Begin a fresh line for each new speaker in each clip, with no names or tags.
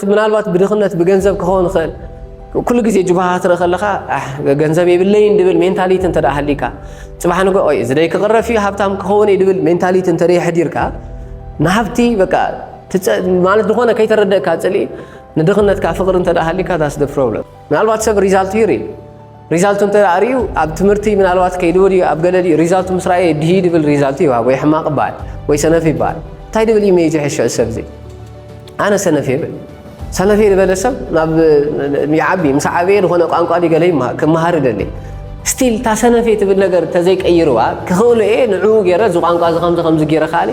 ምናልባት ብድኽነት ብገንዘብ ክኸውን ይኽእል ኩሉ ግዜ ጅባሃ ትርኢ ከለኻ ገንዘብ የብለይን ድብል ሜንታሊቲ እንተ ሃሊካ ፅባሕ ንጎ ኦይ እዚ ደይ ክቕረፍ እዩ ሃብታም ክኸውን እዩ ድብል ሜንታሊቲ እንተ የሕዲርካ ንሃብቲ በቃ ማለት ዝኾነ ከይተረደእካ ፅልኢ ንድኽነትካ ፍቕሪ እንተ ሃሊካ ዳስ ደ ፕሮብለም ምናልባት ሰብ ሪዛልቱ ይርኢ ሪዛልቱ እንተ ኣርእዩ ኣብ ትምህርቲ ምናልባት ከይዱ ድዩ ኣብ ገለ ድዩ ሪዛልቱ ምስ ረኣየ ድሂ ድብል ሪዛልቱ ይውሃብ ወይ ሕማቕ ይበሃል ወይ ሰነፍ ይበሃል እንታይ ድብል እዩ መይዙ ሕሸ ሰብ እዚ ኣነ ሰነፍ የብል ሰነፍ ዝበለ ሰብ ናብ ይዓቢ ምስ ዓበየ ዝኾነ ቋንቋ ድዩ ገለ ክመሃር ይደሊ ስቲል እታ ሰነፍ ትብል ነገር ተዘይቀይርዋ ክኽእሉ እየ ንዕኡ ገይረ እዚ ቋንቋ እዚ ከምዚ ከምዚ ገይረ ከኣሊ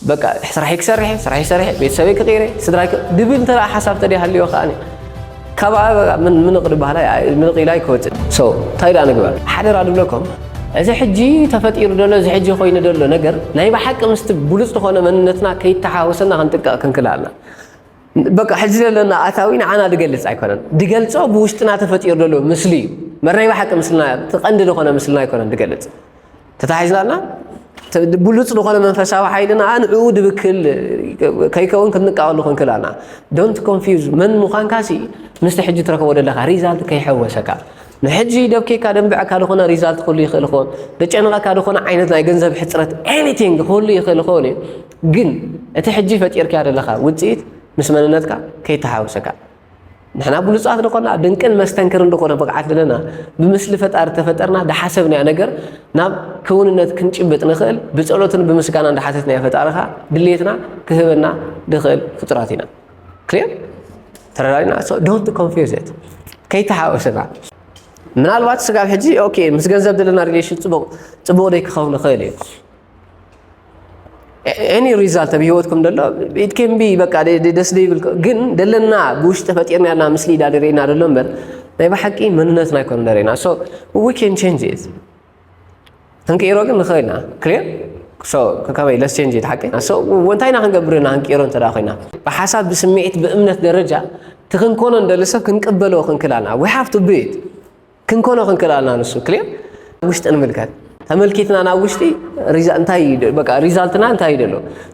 በቃ ስራሕይ ክሰርሕየ ስራሕይ ሰሪሐ ቤተሰበይ ክቕይረ ስድራይ ክ ድብል እንተ ሓሳብ ተደይ ሃልዮ ከኣኒ ካብኣ በቃ ምን ምንቕ ድበሃላ ምንቕ ኢላ ኣይክወፅእ ሶ እንታይ ደኣ ንግበር ሓደራ ድብለኩም እዚ ሕጂ ተፈጢሩ ደሎ እዚ ሕጂ ኮይኑ ደሎ ነገር ናይ ብሓቂ ምስቲ ብሉፅ ዝኾነ መንነትና ከይተሓወሰና ክንጥቀቕ ክንክል ኣላ በቃ ሕዚ ዘለና ኣታዊ ንዓና ድገልፅ ኣይኮነን ድገልፆ ብውሽጥና ተፈጢሩ ደሎ ምስሊ እዩ መርናይ ብሓቂ ምስልና እቲ ቀንዲ ዝኾነ ምስልና ኣይኮነን ድገልፅ ተታሒዝና ኣላ ብሉፅ ዝኾነ መንፈሳዊ ሓይሊ ንኣ ንዕኡ ድብክል ከይከውን ክንቃወሉ ክንክል ኣና ዶንት ኮንፊዝ መን ምዃንካ ሲ ምስቲ ሕጂ ትረከቦ ዘለካ ሪዛልት ከይሐወሰካ ንሕጂ ደብኬካ ደንብዕካ ዝኾነ ሪዛልት ክህሉ ይኽእል ይኸውን ደጨንቐካ ዝኾነ ዓይነት ናይ ገንዘብ ሕፅረት ኤኒቲንግ ክህሉ ይኽእል ይኸውን እዩ ግን እቲ ሕጂ ፈጢርካያ ዘለካ ውፅኢት ምስ መንነትካ ከይተሓወሰካ ንሕና ብሉጻት ንኾና ድንቅን መስተንክርን ዝኾነ ብቕዓት ኣለና ብምስሊ ፈጣሪ ተፈጠርና ዝሓሰብናዮ ነገር ናብ ክውንነት ክንጭብጥ ንኽእል ብጸሎትን ብምስጋና እንዳሓተትናዮ ፈጣሪኻ ድሌትና ክህበና ንኽእል ፍጡራት ኢና ክሊር ተረዳዲና ዶንት ኮንፊዝ ኢት ከይተሓወሰና ምናልባት ስጋብ ሕጂ ኦኬ ምስ ገንዘብ ዘለና ሪሌሽን ጽቡቕ ጽቡቕ ደይ ክኸውን ይኽእል እዩ ኤኒ ሪዛልት ኣብ ሂወትኩም ደሎ ኢት ኬን ቢ በቃ ደስ ደይብል ግን ደለና ብውሽጢ ፈጢርና ያልና ምስሊ ኢና ደሪእና ደሎ እምበር ናይ ብሓቂ መንነትና ኣይኮነ ደሪእና ሶ ዊ ኬን ቼንጅ ኢት ክንቅይሮ ግን ንኽእል ኢና ክሊር ሶ ከመይ ለስ ቼንጅ ኢት ሓቂ ሶ እንታይ ኢና ክንገብር ኢና ክንቅይሮ እንተ ኮይና ብሓሳብ ብስምዒት ብእምነት ደረጃ እቲ ክንኮኖ ንደሊ ሰብ ክንቅበሎ ክንክል ኣለና ዊ ሃቭ ቱ ቢ ኢት ክንኮኖ ክንክእል ኣለና ንሱ ክሊር ውሽጢ ንምልከት ተመልኪትና ናብ ውሽጢ እንታይ በቃ ሪዛልትና እንታይ እዩ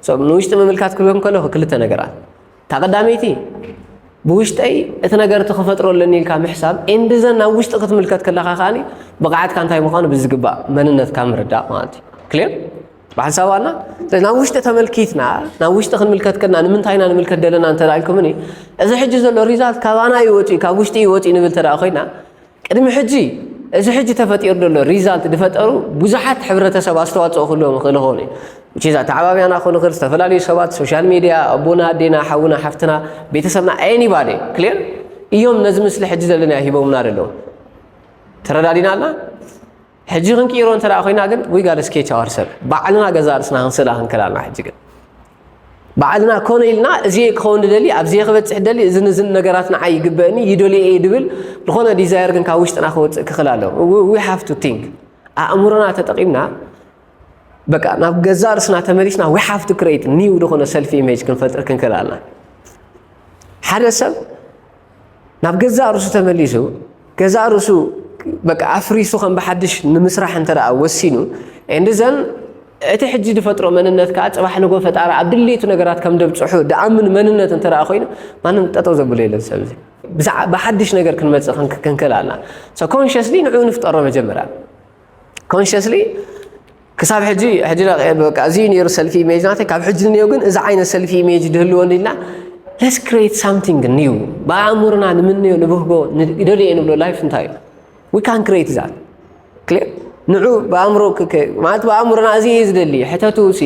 ዘሎ ንውሽጢ ምምልካት ክብም ከለኹ ክልተ ነገራት እታ ቀዳመይቲ ብውሽጠይ እቲ ነገር እቲ ክፈጥሮ ኣለኒ ኢልካ ምሕሳብ ኤንድዘን ናብ ውሽጢ ክትምልከት ከለካ ከዓኒ ብቕዓትካ እንታይ ምዃኑ ብዝግባእ መንነትካ ምርዳእ ማለት እዩ ክሊር ብሓንሳብ ኣላ ስለዚ ናብ ውሽጢ ተመልኪትና ናብ ውሽጢ ክንምልከት ከና ንምንታይ ኢና ንምልከት ደለና እንተ ኢልኩምኒ እዚ ሕጂ ዘሎ ሪዛልት ካባና እዩ ወፂኡ ካብ ውሽጢ እዩ ወፂኡ ንብል ተደኣ ኮይና ቅድሚ ሕጂ እዚ ሕጂ ተፈጢሩ ዘሎ ሪዛልት ዝፈጠሩ ብዙሓት ሕብረተሰብ ኣስተዋፅኦ ክህልዎም ይኽእል ይኸውን እዩ ቺዛ ተዓባብያና ክኾኑ ይኽእል ዝተፈላለዩ ሰባት ሶሻል ሚድያ ኣቦና ኣዴና ሓውና ሓፍትና ቤተሰብና ኤኒባዲ ክሊር እዮም ነዚ ምስሊ ሕጂ ዘለና ሂቦምና ደለዉ ተረዳዲና ኣላ ሕጂ ክንቅይሮ እንተ ኮይና ግን ዊ ጋድ ስኬች ኣወር ሰብ ባዕልና ገዛ ርስና ክንስእላ ክንክል ኣለና ሕጂ ግን ባዕልና ኮነ ኢልና እዚ ክኸውን ደሊ ኣብዚ ክበፅሕ ደሊ እዚ ንዝን ነገራት ንዓይ ይግበእኒ ይደልየ እየ ድብል ዝኾነ ዲዛይር ግን ካብ ውሽጥና ክወፅእ ክኽል ኣሎ ዊ ሃቭ ቱ ቲንክ ኣእምሮና ተጠቂምና በቃ ናብ ገዛ ርስና ተመሊስና ዊ ሃቭ ቱ ክሬት ኒው ዝኾነ ሰልፊ ኢሜጅ ክንፈጥር ክንክል ኣለና ሓደ ሰብ ናብ ገዛእ ርእሱ ተመሊሱ ገዛእ ርእሱ በቃ ኣፍሪሱ ከም ብሓድሽ ንምስራሕ እንተ ወሲኑ እንድዘን እቲ ሕጂ ዝፈጥሮ መንነት ከዓ ፅባሕ ንጎ ፈጣሪ ኣብ ድሌቱ ነገራት ከም ደብፅሑ ድኣምን መንነት እንተ ኮይኑ ማንም ጠጠው ዘብሎ የለን ሰብ እዚ ብሓድሽ ነገር ክንመፅእ ክንክእል ኣላ ኮንሽስሊ ንዕኡ ንፍጠሮ መጀመርያ ኮንሽስሊ ክሳብ ሕጂ ሕጂ በቃ እዚ ነይሩ ሰልፊ ኢሜጅ ናተይ ካብ ሕጂ ንኔው ግን እዚ ዓይነት ሰልፊ ኢሜጅ ድህልወኒ ኢልና ለስ ክሬት ሳምቲንግ ኒው ብኣእምሮና ንምንዮ ንብህጎ ደልየ ንብሎ ላይፍ እንታይ እዩ ዊ ካን ክሬት ዛት ክሊር ንዑ ብኣእምሮ ማለት ብኣእምሮና እዚ እዩ ዝደሊ ሕተቱ ሲ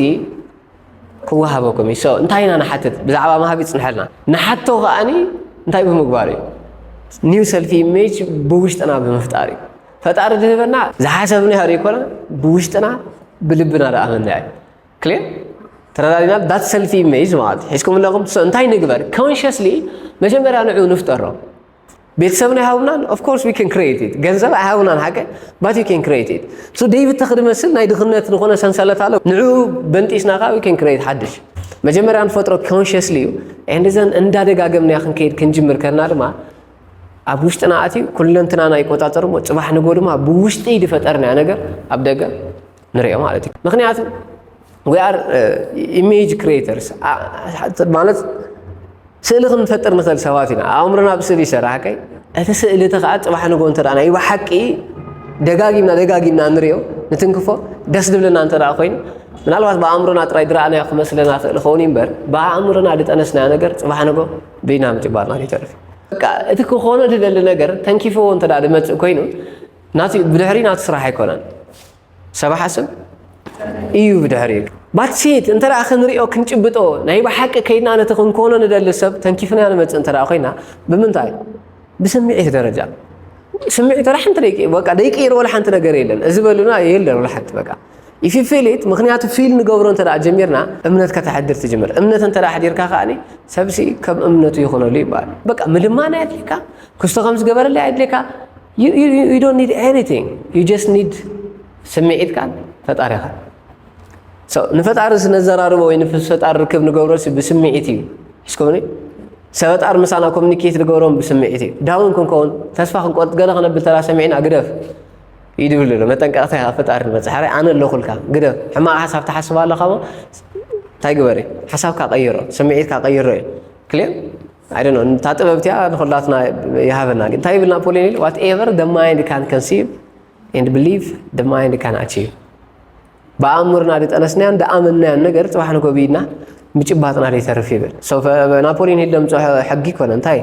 ክወሃበኩም እዩ ሶ እንታይ ኢና ንሓትት ብዛዕባ ማሃብ ይፅንሐልና ንሓቶ ከዓኒ እንታይ ብምግባር እዩ ኒው ሰልፊ ኢሜጅ ብውሽጥና ብምፍጣር እዩ ፈጣሪ ዝህበና ዝሓሰብና ያህር ይኮና ብውሽጥና ብልብና ዳኣመና እዩ ክሌ ተረዳዲና ዳት ሰልፊ ኢሜጅ ማለት ሒዝኩም ኣለኹም እንታይ ንግበር ኮንሽስሊ መጀመርያ ንዑ ንፍጠሮ ቤተሰብና ይሃቡናን ኦፍኮርስ ዊ ን ክሬት ገንዘብ ኣይሃቡናን ሓቂ ባት ዩ ን ክሬት ሶ ደይብ ተኽዲ መስል ናይ ድኽነት ዝኾነ ሰንሰለት ኣሎ ንዑ በንጢስና ካ ን ክሬት ሓድሽ መጀመርያ ንፈጥሮ ኮንሽስሊ እዩ ንዘን እንዳደጋገምናያ ክንከይድ ክንጅምር ከና ድማ ኣብ ውሽጥና ኣትዩ ኩለንትናና ይቆጻጸር እሞ ጽባሕ ንጎ ድማ ብውሽጢ ዝፈጠርናዮ ነገር ኣብ ደገ ንሪኦ ማለት እዩ ምክንያቱ ዊ ኣር ኢሜጅ ክሪኤተርስ ማለት ስእሊ ክንፈጥር ንኽእል ሰባት ኢና ኣእምሮና ብስእሊ ይሰርሕ ከይ እቲ ስእሊ እቲ ከዓ ፅባሕ ንጎ እንተ ናይ ብሓቂ ደጋጊምና ደጋጊምና ንሪኦ ንትንክፎ ደስ ዝብለና እንተ ኮይኑ ምናልባት ብኣእምሮና ጥራይ ድረኣናዮ ክመስለና ክእል ኸውን እምበር ብኣእምሮና ዝጠነስናዮ ነገር ፅባሕ ንጎ ብኢና ምጭባርና ከይተርፍ በቃ እቲ ክኾኖ ዝደሊ ነገር ተንኪፍዎ እንተ ዝመፅእ ኮይኑ ናቲ ብድሕሪ ናቱ ስራሕ ኣይኮነን ሰብ ሓስብ እዩ ብድሕሪ ባትሲት እንተ ክንሪኦ ክንጭብጦ ናይ ብሓቂ ከይድና ነቲ ክንኮኖ ንደሊ ሰብ ተንኪፍና ንመፅእ እንተ ኮይና ብምንታይ ብስምዒት ደረጃ ስምዒት ወላ ሓንቲ ደቂ በቃ ደይቅይር ወላ ሓንቲ ነገር የለን እዚ በሉና የለን ወላ ሓንቲ በቃ If you feel it ምክንያቱ ፊል ንገብሮ እንተ ጀሚርና እምነት ከተሕድር ትጅምር እምነት እንተ ኣሕዲርካ ከዓኒ ሰብሲ ከም እምነቱ ይኾነሉ ይበሃል በቃ ምልማን ኣየድልየካ ክስቶ ከም ዝገበረለ ኣየድልየካ ዩ ዶንት ኒድ ኤኒቲንግ ዩ ጀስት ኒድ ስምዒትካን ፈጣሪኻን ንፈጣሪ ስነዘራርቦ ወይ ንፈጣሪ ርክብ ንገብሮ ብስምዒት እዩ ስኮኒ ሰበጣር ምሳና ኮሚኒኬት ንገብሮም ብስምዒት እዩ ዳውን ክንከውን ተስፋ ክንቆርጥ ገለ ክነብል ተራ ሰሚዕና ግደፍ ይድብል ኣሎ መጠንቀቕታ ካብ ፈጣሪ ንመጽ ሕራይ ኣነ ኣለኹልካ ግደፍ ሕማቕ ሓሳብ ትሓስብ ኣለኻ እሞ እንታይ ግበር እዩ ሓሳብካ ቀይሮ ስምዒትካ ቀይሮ እዩ ክልዮ ኣይ ዶንት ኖ እታ ጥበብ እቲኣ ንኹላትና ይሃበና ግን እንታይ ይብል ናፖሊዮን ኢሉ ዋት ኤቨር ደ ማይንድ ካን ከንሲቭ ኤንድ ብሊቭ ደ ማይንድ ካን ኣቺቭ ብኣእምርና ድጠነስናያን ድኣመናያን ነገር ፅባሕ ንጎ ብኢድና ምጭባጥና ዘይተርፍ ይብል ናፖሊዮን ሂል ደምፅሖ ሕጊ ኮነ እንታይ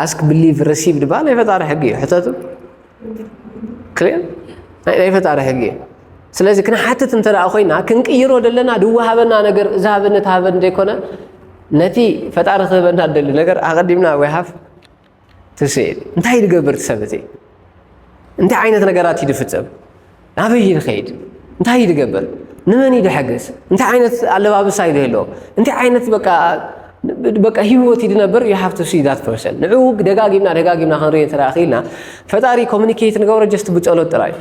ኣስክ ብሊቭ ረሲቭ ድባ ናይ ፈጣሪ ሕጊ እዩ ሕተቱ ክልል ናይ ፈጣሪ ሕጊ እዩ ስለዚ ክንሓትት እንተ ኮይና ክንቅይሮ ዘለና ድወሃበና ነገር እዚ ሃበኒ ተሃበኒ ዘይኮነ ነቲ ፈጣሪ ክህበና ደሊ ነገር ኣቐዲምና ወይ ሃፍ ትስእል እንታይ ድገብር ትሰብ እቲ እንታይ ዓይነት ነገራት እዩ ድፍፅም ናበይ ድኸይድ እንታይ ድገብር ንመን እዩ ድሐግዝ እንታይ ዓይነት ኣለባብሳ እዩ ድህሎ እንታይ ዓይነት በቃ በቃ ህይወት ይድነብር ዩ ሃቭ ቱ ሲ ዳት ፐርሰን ንዕኡ ደጋጊምና ደጋጊምና ክንሪኦ እንተ ክኢልና ፈጣሪ ኮሚኒኬት ንገብሮ ጀስት ብፀሎት ጥራይ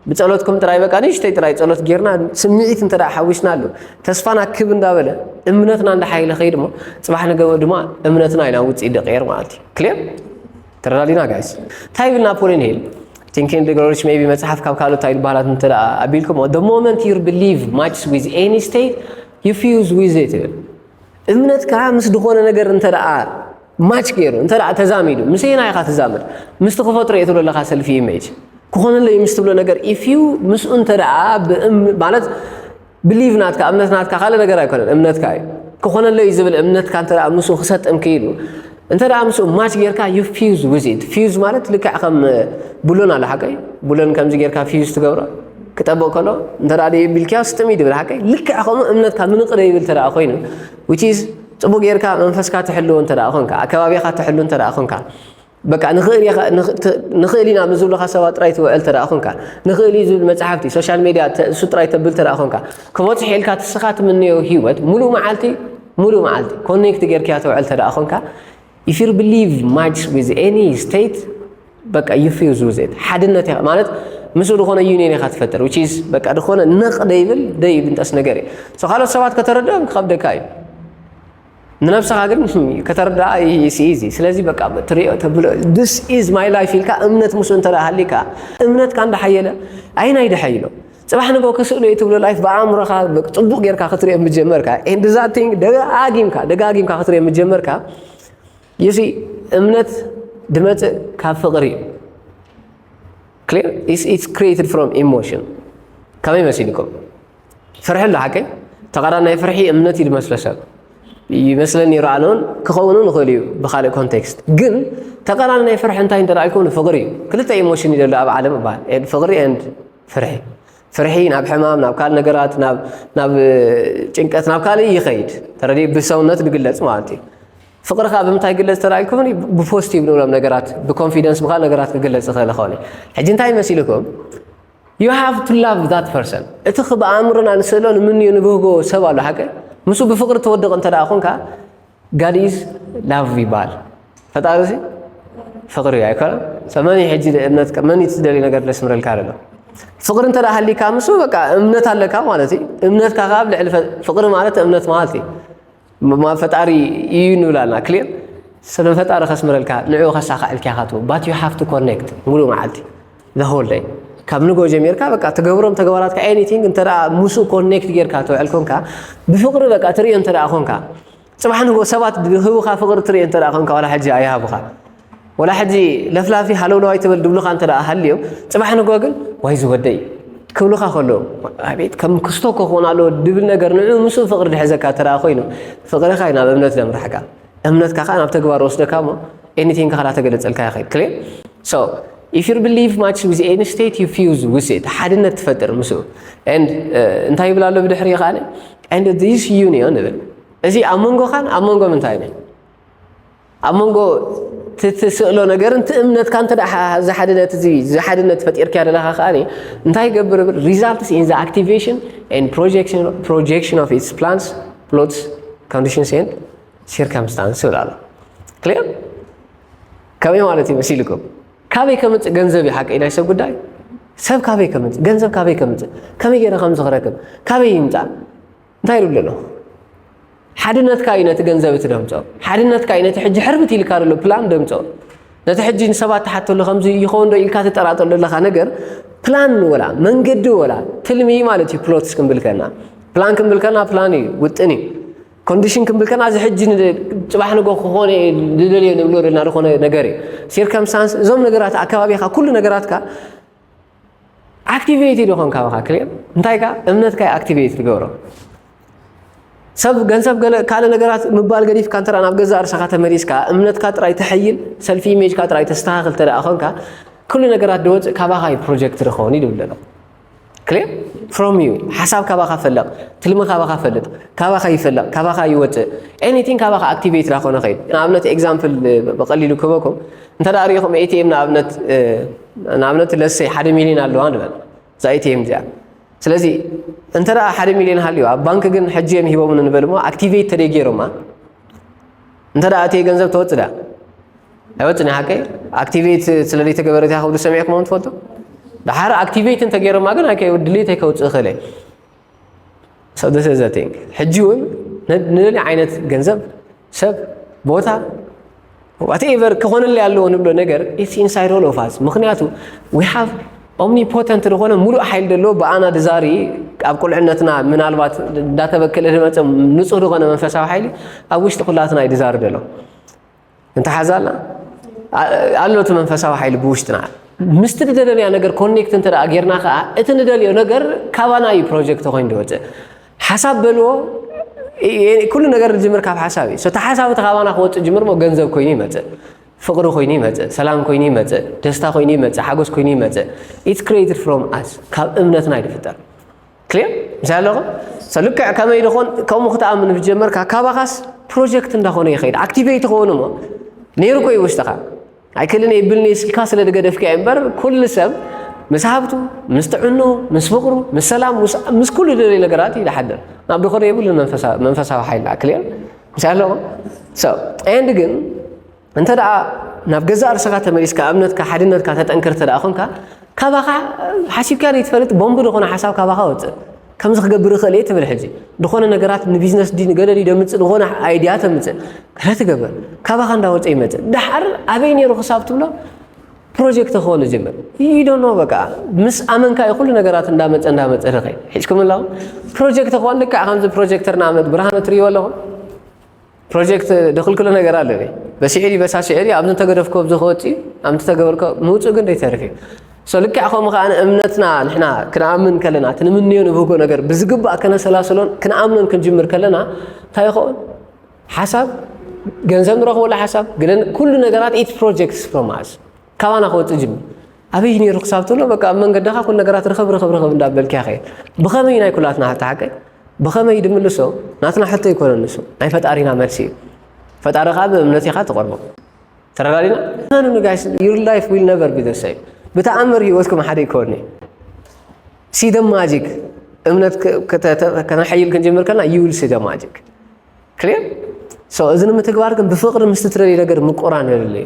ብፀሎት ከም ጥራይ በቃ ንእሽተይ ጥራይ ፀሎት ጌርና ስምዒት እንተ ሓዊስናሉ ተስፋና ክብ እንዳበለ እምነትና እንዳሓይለ ከይድ እሞ ፅባሕ ንገበ ድማ እምነትና ኢና ውፅኢት ደቀየር ማለት እዩ ክልር ተረዳዲና ጋይስ እንታይ ይብል ናፖሊን ሂል ቲንክ ኤንድ ግሮው ሪች ሜቢ መጽሓፍ ካብ ካልኦት እንታይ ዝበሃላት እንተ ኣቢልክሞ the moment you believe much with any state you fuse with it ይብል እምነትካ ምስ ዝኾነ ነገር እንተ ማች ገይሩ እንተ ተዛሚዱ ምስ ና ኢኻ ትዛምድ ምስቲ ክፈጥሮ እየ ትብሎ ኣለኻ ሰልፊ ኢሜጅ ክኾነለይ ምስ ትብሎ ነገር ኢፍ ዩ ምስኡ እንተ ማለት Believe ናትካ እምነት ናትካ ካልእ ነገር ኣይኮነን እምነትካ እዩ ክኾነለይ እዩ ዝብል እምነትካ እንተ ምስኡ ክሰጥም ክኢሉ እንተ ምስኡ ማች ጌርካ ዩ ፊዝ ዊዝ ኢት ፊዝ ማለት ልክዕ ከም ቡሎን ኣሎ ሓቀይ ቡሎን ከምዚ ጌርካ ፊዝ ትገብሮ ክጠብቕ ከሎ እንተ ደዩ ቢልክያ ስጥም እዩ ድብል ሓቀይ ልክዕ ከምኡ እምነትካ ምንቕደ ይብል ተደኣ ኮይኑ ዊች ኢዝ ጽቡቅ ጌርካ መንፈስካ ትሕልዎ እንተ ኮንካ ኣከባቢኻ ትሕሉ እንተ ኮንካ በቃ ንኽእል ኢኻ ንኽ- ንኽእል ኢና ምስ ዝብሉኻ ሰባት ጥራይ ትውዕል ተደኣ ኾንካ ንኽእል እዩ ዝብል መጽሓፍቲ ሶሻል ሜድያ ተ- እሱ ጥራይ ተብል ተደኣ ኾንካ ክበጽሕ ኢልካ ትስኻ ትምነዮ ህይወት ሙሉእ መዓልቲ ሙሉእ መዓልቲ ኮኔክት ጌርክያ ትውዕል ተደኣ ኾንካ if you believe much with any state በቃ you fuse with it ሓድነት ኢኻ ማለት ምስኡ ዝኾነ ዩኒየን ኢኻ ትፈጥር which is በቃ ዝኾነ ነቕ ደይብል ደይብንጠስ ነገር እዩ So ካልኦት ሰባት ከተረድኦም ክኸብደካ እዩ ንነብስኻ ግን ከተርድኣ ይስኢዚ ስለዚ በቃ ትሪኦ ተብሎ ዲስ ኢዝ ማይ ላይፍ ኢልካ እምነት ምስ እንተ ሃሊካ እምነትካ እንዳሓየለ ኣይናይ ድሐ ኢሎ ፅባሕ ንጎ ክስእሎ እዩ ትብሎ ላይፍ ብኣእምሮኻ ፅቡቕ ጌርካ ክትሪኦ ምጀመርካ ኤንድ ዛት ቲንግ ደጋጊምካ ደጋጊምካ ክትሪኦ ምጀመርካ ይሲ እምነት ድመፅእ ካብ ፍቕሪ እዩ ክሊር ኢትስ ክሪኤትድ ፍሮም ኢሞሽን ከመይ መሲልኩም ፍርሒ ኣሎ ሓቀይ ተቃራኒ ናይ ፍርሒ እምነት እዩ ዝመስሎ ሰብ ይመስለኒ ነይሩ ኣነ እውን ክኸውን እውን ይኽእል እዩ ብካልእ ኮንቴክስት ግን ተቃራኒ ናይ ፍርሒ እንታይ እንተ ኢልኩም ፍቅሪ እዩ ክልተ ኢሞሽን እዩ ዘሎ ኣብ ዓለም እባል ፍቅሪ ኤንድ ፍርሒ ፍርሒ ናብ ሕማም ናብ ካልእ ነገራት ናብ ጭንቀት ናብ ካልእ ይኸይድ ተረዲ ብሰውነት ዝግለፅ ማለት እዩ ፍቅሪ ከዓ ብምንታይ ይግለፅ ተራኢልኩም ብፖስቲቭ ንብሎም ነገራት ብኮንፊደንስ ብካል ነገራት ክግለፅ ይኽእል ይኸውን እዩ ሕጂ እንታይ መሲልኩም You have to love that person እቲ ክብ ኣእምሮና ንስእሎ ንምንዮ ንብህጎ ሰብ ኣሎ ሓቂ ምስ ብፍቅሪ ተወድቕ እንተ ኮንካ God is love ይበሃል ፈጣሪ እዚ ፍቅሪ እዩ ኣይኮነ ሰብ መን እዩ ሕጂ እምነት መን እዩ ትደልዩ ነገር ለስምረልካ ኣሎ ፍቅሪ እንተ ሃሊካ ምስ በቃ እምነት ኣለካ ማለት እዩ እምነትካ ካብ ልዕሊ ፍቅሪ ማለት እምነት ማለት እዩ ማ ፈጣሪ እዩ ንብላና ክሊር ስለ ፈጣሪ ከስምረልካ ንዕኡ ከሳኸዐልካ ኢኻ ትብል ባት ዩ ሃቭ ቱ ኮኔክት ሙሉእ መዓልቲ ዘሆል ደይ ካብ ንጎ ጀሚርካ በቃ ትገብሮም ተግባራትካ ኤኒቲንግ እንተ ምስኡ ኮኔክት ጌርካ ተውዕል ኮንካ ብፍቅሪ በቃ ትርእዮ እንተ ኮንካ ፅባሕ ንጎ ሰባት ህቡኻ ፍቅሪ ትርኢ እንተ ኮንካ ዋላ ሕጂ ኣይሃቡኻ ወላ ሕጂ ለፍላፊ ሃለውለዋይ ትብል ድብሉኻ እንተ ደኣ ሃልዮም ጽባሕ ንግሆ ግን ዋይ ዝወደይ ክብሉኻ ከለዉ ኣቤት ከም ክስቶ እኮ ክኾን ኣለዎ ድብል ነገር ንዑ ምስኡ ፍቕሪ ድሕዘካ እንተ ደኣ ኮይኑ ፍቕርኻ እዩ ናብ እምነት ዘምርሓካ እምነትካ ከዓ ናብ ተግባር ወስደካ እሞ ኤኒቲንግ ከዓ ተገለጸልካ ይኽእል ክሊር ሶ ኢፍ ዩ ብሊቭ ማች ዊዝ ኤኒ ስቴት ዩ ፊውዝ ዊዝ ኢት ሓድነት ትፈጥር ምስኡ ኤንድ እንታይ ይብል ኣሎ ብድሕሪ ከዓ ኤንድ ዚስ ዩኒዮን ይብል እዚ ኣብ መንጎኻን ኣብ መንጎ ምንታይ እዩ ኣብ መንጎ እቲ ትስእሎ ነገርን እቲ እምነትካ እንተ እዚ ሓድነት እዚ እዚ ሓድነት ፈጢርካዮ ዘለኻ ከኣ እንታይ ይገብር እብል ሪዛልትስ ኢን ዘ ኣክቲቬሽን ኤንድ ፕሮጀክሽን ኦፍ ኢትስ ፕላንስ ፕሎትስ ኮንዲሽንስ ኤንድ ሲርከምስታንስ ይብል ኣሎ ክሊር ከመይ ማለት እዩ መሲልኩም ካበይ ከምፅእ ገንዘብ እዩ ሓቂ ናይ ሰብ ጉዳይ ሰብ ካበይ ከምፅእ ገንዘብ ካበይ ከምፅእ ከመይ ገይረ ከምዚ ክረክብ ካበይ ይምፃእ እንታይ ኢሉ ኣሎ? ሓድነትካ እዩ ነቲ ገንዘብ እቲ ደምፆ። ሓድነትካ እዩ ነቲ ሕጂ ሕርብት ኢልካ ዘሎ ፕላን ደምፆ። ነቲ ሕጂ ንሰባት ትሓተሉ ከምዚ ይኸውን ዶ ኢልካ ትጠራጠር ዘለኻ ነገር ፕላን ወላ መንገዲ ወላ ትልሚ ማለት እዩ። ፕሎትስ ክንብል ከና ፕላን ክንብል ከና ፕላን እዩ ውጥን እዩ። ኮንዲሽን ክንብል ከና እዚ ሕጂ ፅባሕ ንጎ ክኾነ ዝደልዮ ንብሎ ዘለና ዝኾነ ነገር እዩ። ሲርከምስታንስ እዞም ነገራት ኣከባቢኻ ኩሉ ነገራትካ ኣክቲቬቲ ዶ ኮንካ በኻ ክሌብ እንታይ ከ እምነትካ ኣክቲቬት ትገብሮ ሰብ ገንዘብ ገለ ካልእ ነገራት ምባል ገዲፍካ እንተ ናብ ገዛእ ርእሰኻ ተመሊስካ እምነትካ ጥራይ ተሐይል ሰልፊ ኢሜጅካ ጥራይ ተስተኻኽል እንተ ኮንካ ኩሉ ነገራት ድወፅእ ካባኻ እዩ ፕሮጀክት ዝኸውን እዩ ዝብል ዘሎ ክሌር ፍሮም ዩ ሓሳብ ካባኻ ፈለቕ ትልሚ ካባኻ ፈልጥ ካባኻ ይፈለቕ ካባኻ ይወፅእ ኤኒቲንግ ካባኻ ኣክቲቬት ዳኾነ ኸይድ ንኣብነት ኤግዛምፕል ብቐሊሉ ክበኩም እንተ ሪኢኹም ኤቲኤም ንኣብነት ንኣብነት ለሰይ ሓደ ሚሊዮን ኣለዋ ንበል እዛ ኤቲኤም እዚኣ ስለዚ እንተ ደኣ ሓደ ሚሊዮን ሃልዩ ኣብ ባንክ ግን ሕጂ እዮም ሂቦምን ንበል እሞ ኣክቲቬት ተደይ ገይሮማ እንተ ደኣ እቲ ገንዘብ ተወፅዳ ኣይወፅን ሓቂ ኣክቲቬት ስለ ዘይተገበረት እያ ክብሉ ሰሚዕኩሞም ትፈልጡ ድሓር ኣክቲቬት እንተገይሮማ ግን ድሌት ኣይከውፅእ ይኽእል እዩ So this is the thing. ሕጂ እውን ንደሊ ዓይነት ገንዘብ ሰብ ቦታ ዋትኤቨር ክኾነለይ ኣለዎ ንብሎ ነገር ኢትስ ኢንሳይድ ኦል ኦፍ ኣስ ምክንያቱ ዊ ሃቭ ኦምኒፖተንት ዝኾነ ሙሉእ ሓይሊ ዘለዎ ብኣና ድዛሪ ኣብ ቁልዕነትና ምናልባት እንዳተበከለ ዝመፀ ንፁህ ዝኾነ መንፈሳዊ ሓይሊ ኣብ ውሽጢ ኩላትና እዩ ድዛሪ ዘሎ እንተሓዛ ኣላ ኣሎ እቲ መንፈሳዊ ሓይሊ ብውሽጥና ምስቲ ንደለናያ ነገር ኮኔክት እንተ ጌርና ከዓ እቲ ንደልዮ ነገር ካባና እዩ ፕሮጀክት ኮይኑ ዝወፅእ ሓሳብ በልዎ ኩሉ ነገር ዝጅምር ካብ ሓሳብ እዩ እቲ ሓሳብ እቲ ካባና ክወፅእ ጅምር ሞ ገንዘብ ኮይኑ ይመፅእ ፍቕሪ ኮይኑ ይመፅእ ሰላም ኮይኑ ይመፅእ ደስታ ኮይኑ ይመፅእ ሓጎስ ኮይኑ ይመፅእ ኢትስ ክሬትድ ፍሮም ኣስ ካብ እምነትና እዩ ዝፍጠር ክሊር ምሳይ ኣለኹም ሰ ልክዕ ከመይ ድኾን ከምኡ ክትኣምን ብጀመርካ ካባኻስ ፕሮጀክት እንዳኾነ ይኸይድ ኣክቲቬት ይኸውን እሞ ነይሩ ኮይ ውሽጥኻ ኣይክልን ይብልኒ ስልካ ስለ ዝገደፍካ እዩ እምበር ኩሉ ሰብ ምስ ሃብቱ ምስ ጥዕኑ ምስ ፍቕሩ ምስ ሰላም ምስ ኩሉ ደልዩ ነገራት እዩ ዝሓድር ናብ ድኾነ የብሉን መንፈሳዊ ሓይልና ክሊር ምሳይ ኣለኹም ሰ ኤንድ ግን እንተ ደኣ ናብ ገዛእ ርእሰኻ ተመሊስካ እምነትካ ሓድነትካ ተጠንክር እንተ ደኣ ኾንካ ካባኻ ሓሲብካ ዘይትፈልጥ ቦምቢ ዝኾነ ሓሳብ ካባኻ ወፅእ ከምዚ ክገብር ይኽእል እየ ትብል ሕጂ ዝኾነ ነገራት ንቢዝነስ ዲ ንገለ ዲ ደምፅእ ዝኾነ ኣይድያ ተምፅእ ገለ ትገብር ካባኻ እንዳወፀ ይመፅእ ዳሓር ኣበይ ነይሩ ክሳብ ትብሎ ፕሮጀክት ክኾን ዝጀምር ይዶኖ በቃ ምስ ኣመንካ እዩ ኩሉ ነገራት እንዳመፀ እንዳመፀ ልኸ ሒዝኩም ኣለኹም ፕሮጀክት ክኾን ልክዕ ከምዚ ፕሮጀክተር ንኣብነት ብርሃነ ትርእይዎ ኣለኹም ፕሮጀክት ድክልክሎ ነገር ኣለ በሲዒሪ በሳሲዒሪ ኣብ ንተገደፍኮ ኣብዚ ክወፅ እዩ ኣብ ንተገበርኮ ምውፅእ ግን ደይተርፍ እዩ ሶ ልክዕ ከምኡ ከዓ እምነትና ንሕና ክንኣምን ከለና እቲ ንምንዮ ንብህጎ ነገር ብዝግባእ ከነሰላስሎን ክንኣምኖን ክንጅምር ከለና እንታይ ይኸውን ሓሳብ ገንዘብ ንረኽበሉ ሓሳብ ግን ኩሉ ነገራት ኢት ፕሮጀክትስ ፕሮማስ ካባና ክወጽእ ጅም ኣበይ ነይሩ ክሳብ ትብሎ በቃ ኣብ መንገድኻ ኩሉ ነገራት ርኸብ ርኸብ ርኸብ እንዳበልክያ ከይድ ብኸመይ ናይ ኩላትና ሕቶ ሓቀይ ብኸመይ ድምልሶ ናትና ሕቶ ይኮነ ንሱ ናይ ፈጣሪና መልሲ እዩ ፈጣሪ ከዓ ብእምነት ኢኻ ትቐርቦ ተረዳዲና መኑ ንጋይስ ዩር ላይፍ ዊል ነቨር ቢዘሰይ ብተኣምር ህይወትኩም ሓደ ይኮኒ ሲደ ማጂክ እምነት ከነሐይል ክንጅምር ከና ዩል ሲደ ማጂክ ክልር እዚ ንምትግባር ግን ብፍቅሪ ምስትትደልዩ ነገር ምቁራን የድልዩ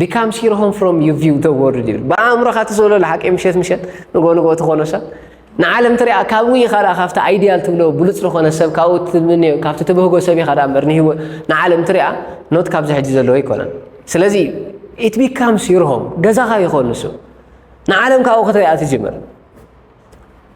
ቢካም ሲርሆም ፍሮም ዩ ቪው ተ ወርልድ ይብል ብኣእምሮኻ ትዘሎ ሓቂ ምሸት ምሸት ንጎ ንጎ ትኾኖ ሰብ ንዓለም ትሪኣ ካብኡ ኢኻ ደኣ ካብቲ ኣይዲያል ትብሎ ብሉፅ ዝኾነ ሰብ ካብኡ ትምንዮ ካብቲ ትብህጎ ሰብ ኢኻ ደኣ እምበር ንህይወት ንዓለም ትሪኣ ኖት ካብዚ ሕጂ ዘለዎ ኣይኮነን ስለዚ ኢት ቢካምስ ዩር ሆም ገዛኻ ይኾን ንሱ ንዓለም ካብኡ ክትሪኣ ትጅምር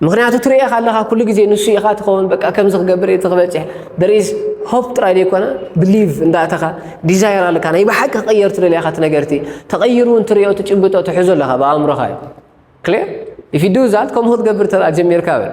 ምክንያቱ ትርእኻ ኣለኻ ኩሉ ግዜ ንሱ ኢኻ ትኸውን በቃ ከምዚ ክገብር እቲ ክበፅሕ ደሪዝ ሆፕ ጥራይ ዘይኮነ ብሊቭ እንዳእተኻ ዲዛይር ኣለካ ናይ ብሓቂ ክቕየር ትደልያ ኢኻ እቲ ነገርቲ ተቐይሩ እውን ትሪኦ ትጭብጦ ትሕዞ ኣለኻ ብኣእምሮኻ እዩ ክሊር ኢፍ ዩ ዱ ዛት ከምኡ ክትገብር ተኣ ጀሚርካ በል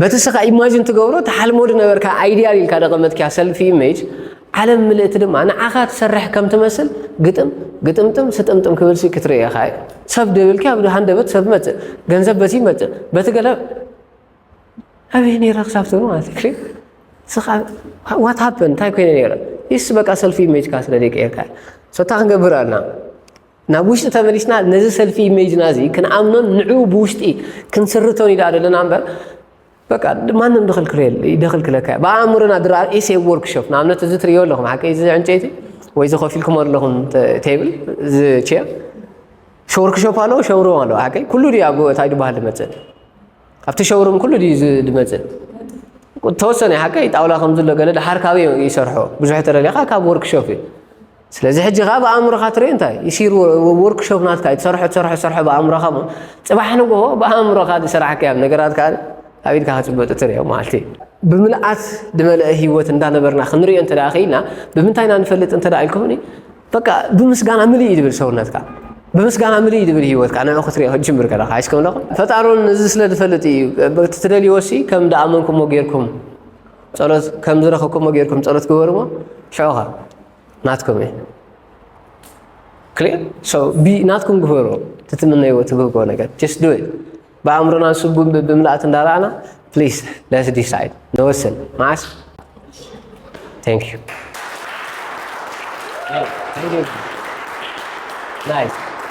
በቲ እስኻ ኢማጂን ትገብሮ ትሓልሞ ዝነበርካ ኣይዲያል ኢልካ ደቐመጥኪያ ሰልፊ ኢሜጅ ዓለም ምልእቲ ድማ ንዓኻ ትሰርሕ ከም ትመስል ግጥም ግጥምጥም ስጥምጥም ክብልሲ ክትርእኻ እዩ ሰብ ደብልኪ ኣብ ሃንደበት ሰብ መፅእ ገንዘብ በቲ ይመፅእ በቲ ገለ ኣበይ ነይረ ክሳብ ትብሎ ማለት እዩ ስኻ ዋት ሃፐን እንታይ ኮይነ ነይረ ይስ በቃ ሰልፊ ኢሜጅካ ስለ ዘይቀየርካ ሶታ ክንገብር ኣና ናብ ውሽጢ ተመሊስና ነዚ ሰልፊ ኢሜጅና እዚ ክንኣምኖን ንዕኡ ብውሽጢ ክንስርቶን ኢና ዘለና እምበር በቃ ማንም ደኽልክለካ እዩ ብኣእምሮና ድራ ኢሴ ወርክሾፕ ንኣብነት እዚ ትሪዮ ኣለኹም ሓቂ እዚ ዕንጨይቲ ወይ እዚ ኮፍ ኢልኩም ኣለኹም ቴብል እዚ ቼር ሾርክሾፕ ኣለዎ ሸውሩም ኣለዎ ሓቂ ኩሉ ድዩ ኣብ እንታይ ድበሃል ድመፅእ ኣብቲ ሸውሩም ኩሉ ድዩ ድመፅእ ተወሰነ ሓቂ ጣውላ ከምዝሎ ገለ ድሓር ካበይ ይሰርሖ ብዙሕ ተደሊኻ ካብ ወርክሾፕ እዩ ስለዚ ሕጂ ከኣ ብኣእምሮኻ ትሪኦ እንታይ ይሲር ወርክሾፕ ናትካ እዩ ትሰርሖ ትሰርሖ ትሰርሖ ብኣእምሮኻ እሞ ጽባሕ ንግሆ ብኣእምሮኻ ዝስራሕካ እዮም ነገራት ከኣ ኣብ ኢድካ ክጽበጡ ትሪኦ ማለት እዩ ብምልኣት ዝመልአ ህይወት እንዳነበርና ክንሪኦ እንተ ደኣ ክኢልና ብምንታይ ኢና ንፈልጥ እንተ ደኣ ኢልኩምኒ በቃ ብምስጋና ምልእ እዩ ዝብል ሰውነትካ ብምስጋና ምልእ እዩ ዝብል ህይወትካ ንዑ ክትሪኦ ክትጅምር ከለኻ ኣይስከም ኣለኹም ፈጣሩን እዚ ስለ ዝፈልጥ እዩ ትደልይዎ ሲ ከም ደኣመንኩሞ ጌርኩም ጸሎት ከም ዝረኸብኩሞ ጌርኩም ጸሎት ግበሩሞ ሽዑ ኸ ናትኩም እዩ ክሊር ሶ ቢ ናትኩም ግበሩ ትትምነይዎ ትብህጎ ነገር ጀስት ዱ ብኣእምሮና ስጉም ብምልኣት እንዳረኣና ፕሊስ ለስ ዲሳይድ ንወስን መዓስ ታንክ ዩ ናይስ